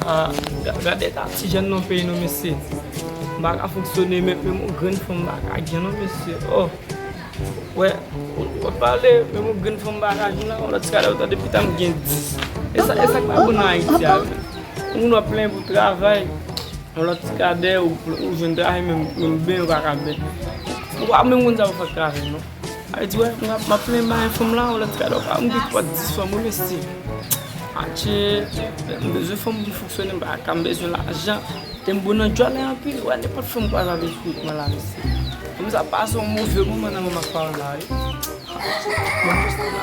Ahh gad eta ti jèn nan peyi nou mesye Mpa ka fonksyone menm yon grenn fanm mpa ka gen non mesye ohh Ou wè wap pale menm yon grenn fanm mpa ka gen nan yon lòt ti kale ou tande pita mgen 10 Esak esak pa bon nan ayiti a menm Yon moun wap plenyen pou travay yon lòt ti kadè ou jwenn travay menm ben ou paka ben Ou pa menm konn sa pou fè ak travay non. Ay di wè map map plen bay fanm la ou lèt kado pa m gen pòt 10 fanm wi mesi adje m bezwen fanm pou m fonksyone m pa ka m bezwen lajan. Tem bon nan djòlè anpil ou wè nenpòt fanm kwaz avèl fini kman la mesi fanm sa pa son move moman nan menm ak pawòl la wi adje m poste la.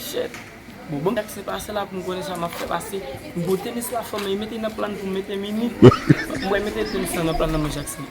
Chèk, Bon banm sak se pase la poum konnen sa map fè pase m pou tenis la fò men mete nan plan poum mete mimi m wè mete tenis la nan plan nan men Jackson.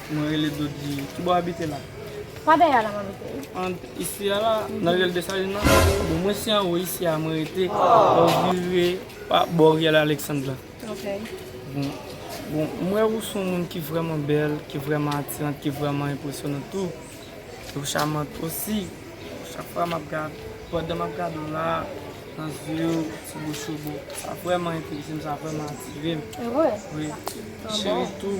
Mwen rele Dodi. Ki bò w abite la? Pa dèyè a la m abite. An isi a la? Nan Riyèl Desalin nan? Bon, mwen se anwo isi a mwen rete. Lè w vire pa bò Riyèl Aleksand la. Ok. Bon, bon, m wè ou se yon moun ki vrèman bèl, ki vrèman atirant, ki vrèman enpresyonant tou. E ou charmante osi. Chak fwa m ap gade, pandan m ap gade ou la, nan zye ou, sou bouch ou, bon, sa vrèman enterese m, sa vrèman atire m. E vre? Wi. Cheri tou.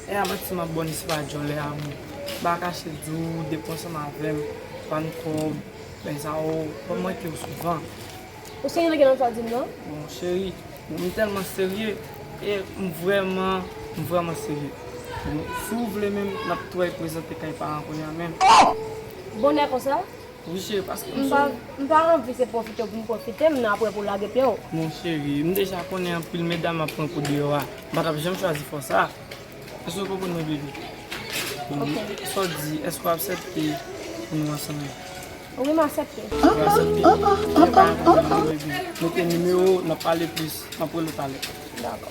Sè a manti map baw ni se pa djòlè a mwen pa kache diw ou dep ansanm avèm bann kòb bèy sa yo pa mankew souvan. Ou serye gen lòt sa dim nan. Bon cheri m tèlman serye e m vrèman m vrèman serye bon si w vle menm nap touay prezante kay paran kounya menm. Ohh! Bonè konsa? Wi cheri paske m sou ou. M pa anvi se pwofite pou m pwofite m nan aprè pou w lage pye w. Bon cheri m deja konnen anpil medam ap pran kou deyò a m pa t ap janm chwazi fò sa. Èske w konprann mwen bebe? Bon sa w di èske w aksepte pou nou ansanm la? Wi m aksepte. Ou aksepte? Gen bagay m ap fè pou ou bebe. Note nimewo w n ap pale plis aprè l ou pale. Dakò.